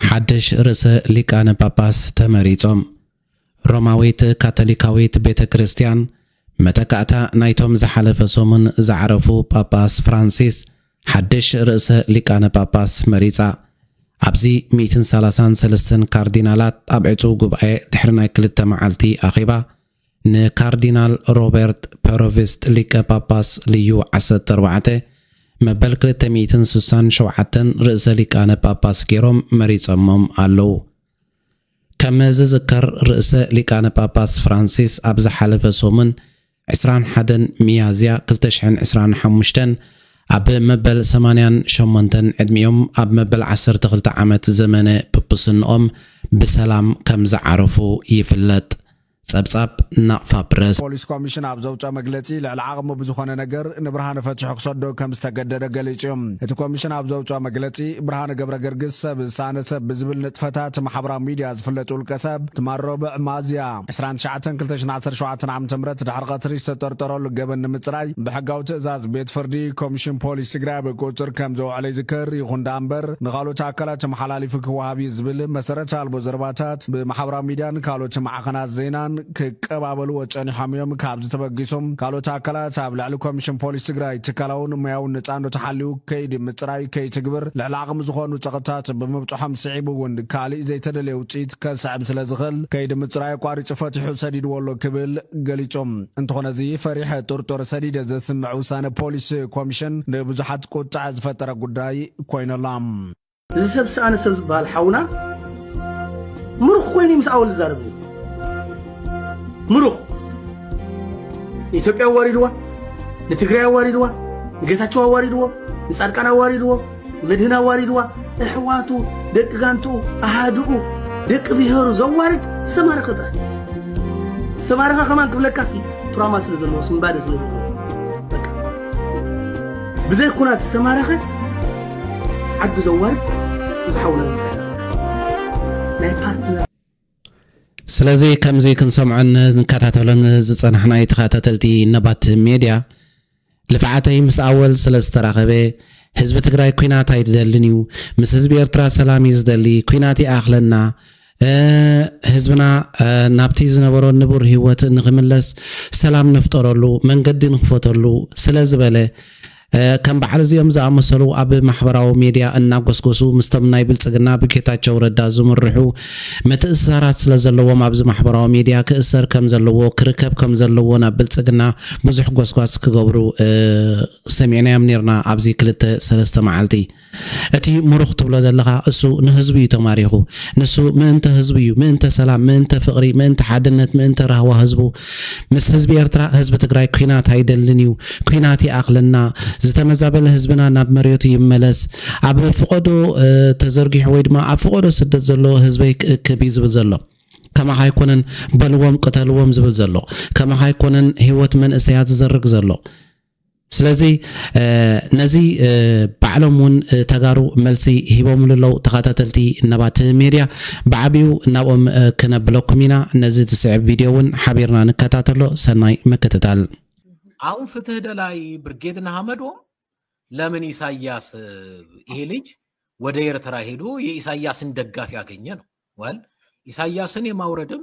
ሓድሽ ርእሰ ሊቃነ ጳጳስ ተመሪጾም። ሮማዊት ካቶሊካዊት ቤተ ክርስቲያን መተካእታ ናይቶም ዝሓለፈ ሰሙን ዝዓረፉ ጳጳስ ፍራንሲስ ሓድሽ ርእሰ ሊቃነ ጳጳስ መሪጻ። ኣብዚ ሚእትን ሰላሳን ሰለስተን ካርዲናላት ኣብ ዕጹው ጉባኤ ድሕሪ ናይ ክልተ መዓልቲ ኣኼባ፣ ንካርዲናል ሮበርት ፐሮቪስት ሊቀ ጳጳስ ልዩ ዓሰርተ ኣርባዕተ መበል ክልተ ሚእትን ስሳን ሸውዓተን ርእሰ ሊቃነ ጳጳስ ገይሮም መሪጸሞም ኣለዉ። ከም ዝዝከር ርእሰ ሊቃነ ጳጳስ ፍራንሲስ ኣብ ዝሓለፈ ሰሙን ዕስራን ሓደን ሚያዝያ ክልተ ሽሕን ዕስራን ሓሙሽተን ኣብ መበል ሰማንያን ሸሞንተን ዕድሚኦም ኣብ መበል ዓሰርተ ክልተ ዓመት ዘመነ ጵጵስንኦም ብሰላም ከም ዝዓረፉ ይፍለጥ። ጸብጻብ ናቕፋ ፕረስ። ፖሊስ ኮሚሽን ኣብ ዘውጸኦ መግለጺ፣ ልዕሊ ዓቕሙ ብዝኾነ ነገር ንብርሃነ ፈቲሑ ክሰዶ ከም ዝተገደደ ገሊጹ'ዩ። እቲ ኮሚሽን ኣብ ዘውጸኦ መግለጺ፣ ብርሃነ ገብረገርግስ ሰብ ዝሰኣነ ሰብ ብዝብል ንጥፈታት ማሕበራዊ ሚድያ ዝፍለጥ ውልቀሰብ፣ ትማል ሮብዕ ሚያዝያ ዕስራን ትሽዓተን ክልተ ሽሕን ዓሰርተ ሸውዓተ ዓመተ ምህረት ድሕሪ ቀትሪ ዝተጠርጠረሉ ገበን ንምጽራይ ብሕጋዊ ትእዛዝ ቤት ፍርዲ ኮሚሽን ፖሊስ ትግራይ ኣብ ቁጽጽር ከም ዘውዐሎ ይዝከር። ይኹን ደኣ እምበር ንኻልኦት ኣካላት ተመሓላሊፉ ክወሃብ እዩ ዝብል መሰረት ኣልቦ ዘረባታት ፕረዚደንት ብማሕበራዊ ሚድያን ካልኦት ማዕኸናት ዜናን ክቀባበልዎ ፀኒሖም እዮም። ካብዚ ተበጊሱ ካልኦት ኣካላት ኣብ ልዕሊ ኮሚሽን ፖሊስ ትግራይ ትካላውን ሞያውን ነፃነቱ ሓልዩ ከይዲ ምፅራይ ከይትግብር ልዕሊ ዓቕሚ ዝኾኑ ፀቕጥታት ብምብፅሖም ስዒቡ እውን ካሊእ ዘይተደለየ ውፅኢት ከስዕብ ስለዝኽእል ከይዲ ምፅራይ ኣቋሪፁ ፈቲሑ ሰዲድዎ ኣሎ ክብል ገሊፁ። እንተኾነ እዚ ፈሪሐ ጥርጡር ሰዲደ ዘስምዕ ውሳነ ፖሊስ ኮሚሽን ንብዙሓት ቁጥዐ ዝፈጠረ ጉዳይ ኮይኑ ኣሎ። እዚ ሰብ ዝሰኣነ ሰብ ዝበሃል ሓውና ምሩኽ ኮይኑ ምስ ኣወል ዝዛረብ ነይሩ ምሩኽ ንኢትዮጵያ ኣዋሪድዋ ንትግራይ ኣዋሪድዋ ንጌታቸው ኣዋሪድዎ ንጻድቃን ኣዋሪድዎ ንመድህን ኣዋሪድዋ እሕዋቱ ደቂ ጋንትኡ ኣሃድኡ ደቂ ብሄሩ ዘዋርድ ዝተማረኸ ጥራሕ ዝተማረኸ ከማን ክብለካሲ ቱራማ ስለ ዘለዎ ስምባደ ስለ ዘለዎ ብዘይ ኩናት ዝተማረኸ ዓዱ ዘዋርድ እዚ ሓውና እዚ ናይ ፓርትነር ስለዚ ከምዚ ክንሰምዖን ንከታተሎን ዝጸናሕና ተኸታተልቲ ነባት ሜድያ ልፍዓተይ ምስ ኣወል ስለ ዝተራኸበ ህዝቢ ትግራይ ኩናት ኣይደልን እዩ ምስ ህዝቢ ኤርትራ ሰላም እዩ ዝደሊ ኩናት ይኣኽለና ህዝብና ናብቲ ዝነበሮ ንቡር ህይወት ንኽምለስ ሰላም ንፍጠረሉ መንገዲ ንኽፈተሉ ስለ ዝበለ ከም በዓል እዚኦም ዝኣመሰሉ ኣብ ማሕበራዊ ሚድያ እናጎስጎሱ ምስቶም ናይ ብልፅግና ብጌታቸው ረዳ ዝምርሑ ምትእስሳራት ስለ ዘለዎም ኣብዚ ማሕበራዊ ሚድያ ክእሰር ከም ዘለዎ ክርከብ ከም ዘለዎ ናብ ብልፅግና ብዙሕ ጎስጓስ ክገብሩ ሰሚዕናዮም ነርና ኣብዚ ክልተ ሰለስተ መዓልቲ እቲ ሙሩኽ ትብሎ ዘለኻ እሱ ንህዝቡ እዩ ተማሪኹ ንሱ ምእንተ ህዝቡ እዩ ምእንተ ሰላም ምእንተ ፍቅሪ ምእንተ ሓድነት ምእንተ ራህዋ ህዝቡ ምስ ህዝቢ ኤርትራ ህዝቢ ትግራይ ኩናት ኣይደልን እዩ ኩናት ይኣኽለና ዝተመዛበለ ህዝብና ናብ መሬቱ ይመለስ ኣብ ፍቆዶ ተዘርጊሑ ወይ ድማ ኣብ ፍቆዶ ስደት ዘሎ ህዝበይ ክእክብ እዩ ዝብል ዘሎ ከማኻ ኣይኮነን በልዎም ቅተልዎም ዝብል ዘሎ ከማኻ ኣይኮነን ሂወት መንእሰያት ዝዘርግ ዘሎ ስለዚ ነዚ ባዕሎም እውን ተጋሩ መልሲ ሂቦምሉ ኣለው ተኸታተልቲ ነባት ሜድያ ብዓቢኡ ናብኦም ክነብለኩም ኢና ነዚ ዝስዕብ ቪድዮ እውን ሓቢርና ንከታተሎ ሰናይ ምክትታል። አሁን ፍትህ ደላይ ብርጌድ ንሐመዶም ለምን ኢሳያስ ይሄ ልጅ ወደ ኤርትራ ሄዶ የኢሳያስን ደጋፊ ያገኘ ነው ወል ኢሳያስን የማውረድም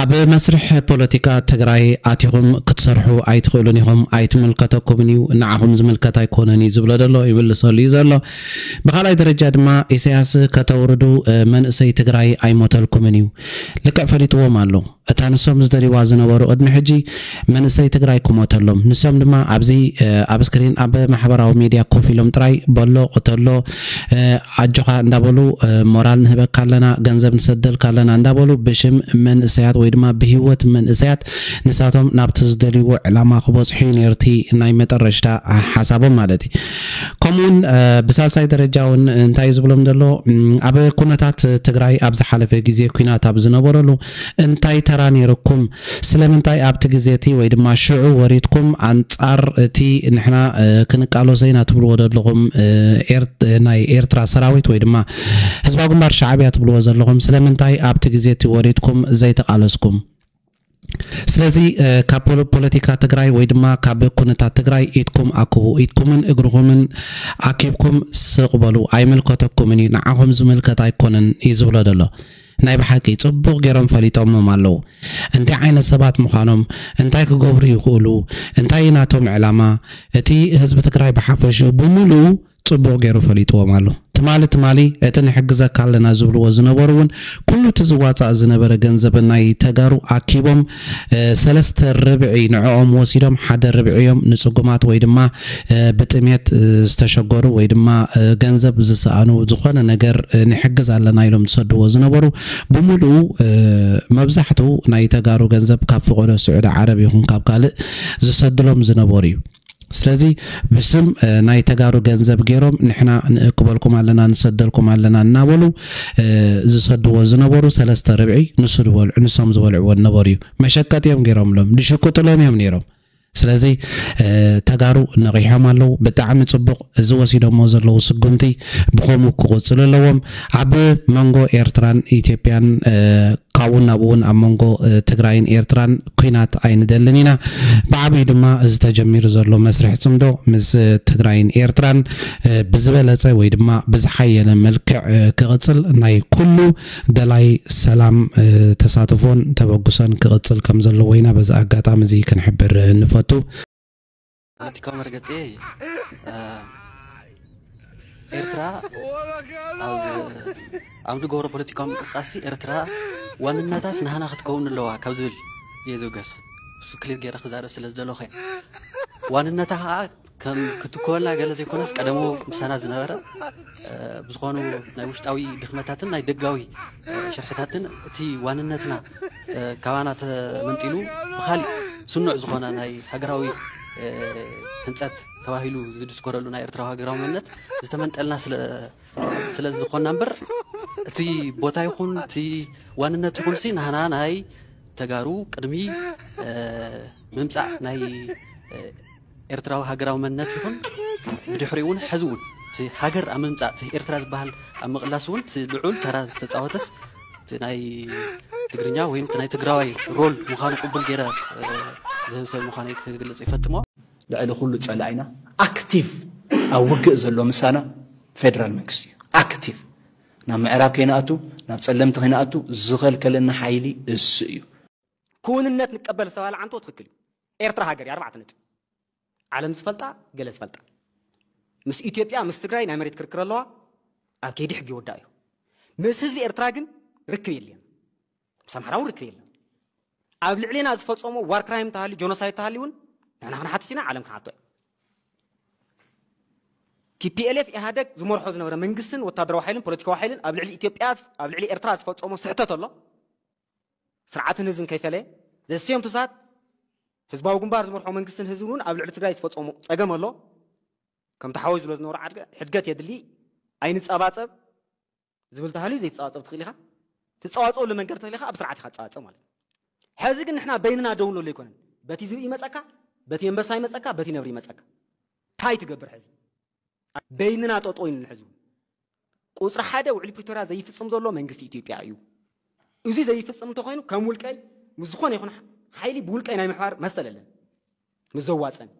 ኣብ መስርሕ ፖለቲካ ትግራይ ኣቲኹም ክትሰርሑ ኣይትኽእሉን ኢኹም፣ ኣይትምልከተኩምን እዩ፣ ንዓኹም ዝምልከት ኣይኮነን እዩ ዝብሎ ዘሎ ይምልሰሉ እዩ ዘሎ። ብኻልኣይ ደረጃ ድማ ኢሳያስ ከተውርዱ መንእሰይ ትግራይ ኣይሞተልኩምን እዩ። ልክዕ ፈሊጥዎም ኣሎ። እታ ንሶም ዝደልይዋ ዝነበሩ ቅድሚ ሕጂ መንእሰይ ትግራይ ክሞተሎም ንሶም ድማ ኣብዚ ኣብ ስክሪን ኣብ ማሕበራዊ ሜድያ ኮፍ ኢሎም ጥራይ በሎ ቅተሎ ኣጆኻ እንዳበሉ ሞራል ንህበካ ኣለና ገንዘብ ንሰደልካ ኣለና እንዳበሉ ብሽም መንእሰያት ወይ ድማ ብሂወት መንእሰያት ንሳቶም ናብቲ ዝደልይዎ ዕላማ ክበጽሑ እዩ ነይሩ እቲ ናይ መጠረሽታ ሓሳቦም ማለት እዩ ከምኡውን ብሳልሳይ ደረጃ እውን እንታይ እዩ ዝብሎም ዘሎ ኣብ ኩነታት ትግራይ ኣብ ዝሓለፈ ግዜ ኩናት ኣብ ዝነበረሉ እንታይ ተራ ነይርኩም ስለምንታይ ኣብቲ ግዜ እቲ ወይ ድማ ሽዑ ወሪድኩም ኣንጻር እቲ ንሕና ክንቃሎሶ ኢና ትብልዎ ደለኹም ናይ ኤርትራ ሰራዊት ወይ ድማ ህዝባዊ ግንባር ሻዕብያ ትብልዎ ዘለኹም ስለምንታይ ኣብቲ ግዜ እቲ ወሪድኩም ዘይተቃለስኩም? ስለዚ ካብ ፖለቲካ ትግራይ ወይ ድማ ካብ ኩነታት ትግራይ ኢድኩም ኣክቡ። ኢድኩምን እግርኹምን ኣኪብኩም ስቅ በሉ። ኣይምልከተኩምን እዩ። ንዓኹም ዝምልከት ኣይኮነን እዩ ዝብሎ ደሎ። ናይ ብሓቂ ጽቡቕ ጌሮም ፈሊጦሞም ኣለዉ እንታይ ዓይነት ሰባት ምዃኖም እንታይ ክገብሩ ይኽእሉ እንታይ እዩ ናቶም ዕላማ እቲ ህዝቢ ትግራይ ብሓፈሽኡ ብምሉኡ ጽቡቕ ጌሩ ፈሊጥዎም ኣሎ ትማሊ ትማሊ እቲ ንሕግዘካ ኣለና ዝብልዎ ዝነበሩ ውን ኩሉ እቲ ዝዋጻእ ዝነበረ ገንዘብ ናይ ተጋሩ ኣኪቦም ሰለስተ ርብዒ ንዕኦም ወሲዶም ሓደ ርብዒ እዮም ንጽጉማት ወይ ድማ ብጥሜት ዝተሸገሩ ወይ ድማ ገንዘብ ዝሰኣኑ ዝኾነ ነገር ንሕግዝ ኣለና ኢሎም ዝሰድዎ ዝነበሩ ብምልኡ መብዛሕቱ ናይ ተጋሩ ገንዘብ ካብ ፍቆዶ ስዑዲ ዓረብ ይኹን ካብ ካልእ ዝሰድሎም ዝነበሩ እዩ። ስለዚ ብስም ናይ ተጋሩ ገንዘብ ገይሮም ንሕና ንእክበልኩም ኣለና ንሰደልኩም ኣለና እናበሉ ዝሰድዎ ዝነበሩ ሰለስተ ርብዒ ንሱ ዝበልዑ ንሶም ዝበልዕዎ ዝነበሩ እዩ መሸቀጥ እዮም ገይሮምሎም ድሽቁጥሎም እዮም ነይሮም ስለዚ ተጋሩ ነቒሖም ኣለዉ ብጣዕሚ ፅቡቕ እዚ ወሲዶሞ ዘለዉ ስጉምቲ ብኸምኡ ክቕጽሉ ኣለዎም። ኣብ መንጎ ኤርትራን ኢትዮጵያን ካብኡን ናብኡን ኣብ መንጎ ትግራይን ኤርትራን ኲናት ኣይንደልን ኢና። ብዓቢኡ ድማ እዚ ተጀሚሩ ዘሎ መስርሕ ጽምዶ ምስ ትግራይን ኤርትራን ብዝበለጸ ወይ ድማ ብዝሓየለ መልክዕ ክቕጽል ናይ ኩሉ ደላይ ሰላም ተሳትፎን ተበግሶን ክቕጽል ከምዘለዎ ኢና በዚ ኣጋጣሚ እዚ ክንሕብር ንፈቱ። ፖለቲካዊ መርገፂ ኤርትራ ኣብ ኣብ ንገብሮ ፖለቲካዊ ምንቅስቃስ ኤርትራ ዋንነታስ ንሃና ክትከውን ኣለዋ ካብ ዝብል እየ ዝውገስ እሱ ክሊር ገይረ ክዛረብ ስለ ዝደለኹ ዋንነታ ከዓ ከም ክትኮወልና ገለ ዘይኮነስ ቀደሞ ምሳና ዝነበረ ብዝኾኑ ናይ ውሽጣዊ ድኽመታትን ናይ ደጋዊ ሽርሕታትን እቲ ዋንነትና ካባና ተመንጢሉ ብካሊእ ስኑዕ ዝኾነ ናይ ሃገራዊ ህንፀት ተባሂሉ ዝድስኮረሉ ናይ ኤርትራዊ ሃገራዊ መንነት ዝተመንጠልና ስለ ዝኾና እምበር እቲ ቦታ ይኹን እቲ ዋንነት ይኹን ሲ ናህና ናይ ተጋሩ ቅድሚ ምምፃእ ናይ ኤርትራዊ ሃገራዊ መንነት ይኹን ብድሕሪኡውን ሐዚውን እቲ ሃገር ኣብ ምምፃእ እቲ ኤርትራ ዝበሃል ኣብ ምቕላስ እውን እቲ ልዑል ተራ ዝተፃወተስ እቲ ናይ ትግርኛ ወይም እቲ ናይ ትግራዋይ ሮል ምዃኑ ቅቡል ገይረ ዝህብ ሰብ ምዃነይ ክግልፅ ይፈትሞ። ልዕሊ ኩሉ ፀላኢና ኣክቲቭ ኣብ ውግእ ዘሎ ምሳና ፌደራል መንግስቲ እዩ። ኣክቲቭ ናብ ምዕራብ ከይንኣቱ ናብ ፀለምቲ ከይንኣቱ ዝኸልከለና ሓይሊ እሱ እዩ። ክውንነት ንቀበል ዝተባህለ ዓንቶ ትክክል እዩ ኤርትራ ሃገር እያ ኣርባዕተ ነጥቢ ዓለም ዝፈልጣ ገለ ዝፈልጣ ምስ ኢትዮጵያ ምስ ትግራይ ናይ መሬት ክርክር ኣለዋ ኣብ ከይዲ ሕጊ ይወዳእ እዩ ምስ ህዝቢ ኤርትራ ግን ርክብ የለን ምስ ኣምሓራ እውን ርክብ የለን ኣብ ልዕሌና ዝፈፀሞ ዋር ክራይም ተሃልዩ ጆኖሳይድ ተሃልዩ እውን ንሕና ክንሓትት ኢና ዓለም ክንሓቶ እዩ ቲፒኤልኤፍ ኢህኣደግ ዝመርሖ ዝነበረ መንግስትን ወታደራዊ ሓይልን ፖለቲካዊ ሓይልን ኣብ ልዕሊ ኢትዮጵያ ኣብ ልዕሊ ኤርትራ ዝፈፀሞ ስሕተት ኣሎ ስርዓትን ህዝብን ከይፈለየ ዘስተዮም ትኩሳት ህዝባዊ ግንባር ዝመርሖ መንግስትን ህዝብን እውን ኣብ ልዕሊ ትግራይ ዝፈፀሙ ፀገም ኣሎ ከም ተሓወይ ዝብሎ ዝነበሩ ሕድገት የድሊ ኣይንፀባፀብ ዝብል ተሃልዩ ዘይትፀባፀብ ትኽእል ኢኻ ትፀዋፀወሉ መንገዲ ትኽእል ኢኻ ኣብ ስርዓት ኢኻ ትፀባፀብ ማለት እዩ ሕዚ ግን ንሕና በይንና ደው ንብሎ ኣይኮነን በቲ ዝብኢ ይመፀካ በቲ ኣንበሳ ይመፀካ በቲ ነብሪ ይመፀካ እንታይ ትገብር ሕዚ ኣብ በይንና ጠጠው ኢልና ሕዚ እውን ቁፅሪ ሓደ ውዕሊ ፕሪቶርያ ዘይፍፅም ዘሎ መንግስቲ ኢትዮጵያ እዩ። እዚ ዘይፍፅም እንተኮይኑ ከም ውልቀይ ምስ ዝኾነ ይኹን ሓይሊ ብውልቀይ ናይ ምሕባር መሰል ኣለን ምስ ዘዋፀን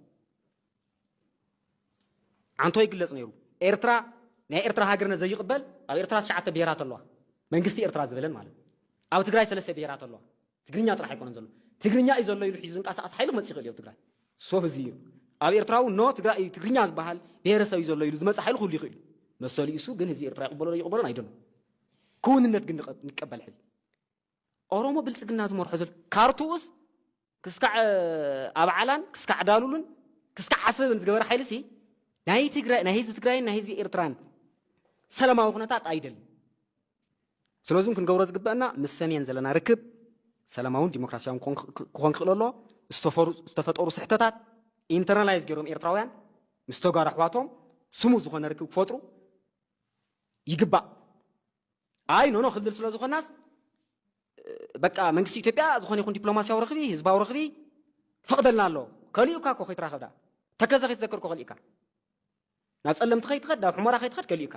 ዓንቶ ይግለፅ ነይሩ ኤርትራ ናይ ኤርትራ ሃገርነት ዘይቕበል ኣብ ኤርትራ ትሽዓተ ብሄራት ኣለዋ መንግስቲ ኤርትራ ዝበለን ማለት ኣብ ትግራይ ሰለስተ ብሄራት ኣለዋ ትግርኛ ጥራሕ ኣይኮነን ዘሎ ትግርኛ እዩ ዘሎ ኢሉ ሒዙ ዝንቀሳቐስ ሓይሊ ክመፅእ ይኽእል እዩ ኣብ ትግራይ ሶ ህዝቢ እዩ ኣብ ኤርትራ እውን ኖ ትግራይ እዩ ትግርኛ ዝበሃል ብሄረሰብ እዩ ዘሎ ኢሉ ዝመፅእ ሓይሊ ክህሉ ይኽእል እዩ መሰሉ እዩ እሱ ግን ህዝቢ ኤርትራ ይቕበሎ ዶ ይቕበሎን ኣይደሎ ክውንነት ግን ንቀበል ሕዚ ኦሮሞ ብልፅግና ዝመርሖ ዘሎ ካርቱኡስ ክስካዕ ኣብዓላን ክስካዕ ዳሉሉን ክስካዕ ዓሰብን ዝገበረ ሓይሊ ሲ ናይ ትግራይ ናይ ህዝቢ ትግራይን ናይ ህዝቢ ኤርትራን ሰላማዊ ኩነታት ኣይደልን ስለዙም ክንገብሮ ዝግበእና ምስ ሰሜን ዘለና ርክብ ሰላማውን ዲሞክራሲያውን ክኾን ክኽእል ኣሎ ዝተፈጠሩ ስሕተታት ኢንተርናላይዝ ገይሮም ኤርትራውያን ምስ ተጋሩ ኣሕዋቶም ስሙ ዝኾነ ርክብ ክፈጥሩ ይግባእ ኣይ ኖኖ ክልል ስለ ዝኾናስ በቃ መንግስቲ ኢትዮጵያ ዝኾነ ይኹን ዲፕሎማሲያዊ ርኽቢ ህዝባዊ ርኽቢ ፈቕደልና ኣሎ ከሊኡካ እኮ ከይትራኸብዳ ተከዘ ከይትዘክር እኮ ከሊኡካ ናብ ጸለምቲ ከይትኸድ ናብ ሕሞራ ከይትኸድ ከሊኡካ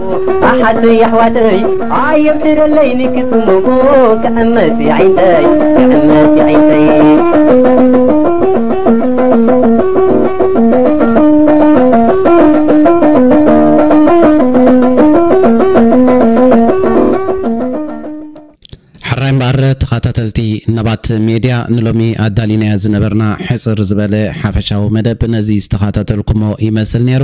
ኣሓተይ ኣሕዋተይ ኣየብድረለይ ንክትሙጉ ክዕመት የዒንተይ ክዕመት የዒንተይ ሕራይ እምበኣር ተኸታተልቲ ነባት ሜድያ ንሎሚ ኣዳሊናዮ ዝነበርና ሕፅር ዝበለ ሓፈሻዊ መደብ ነዚ ዝተኸታተልኩሞ ይመስል ነይሩ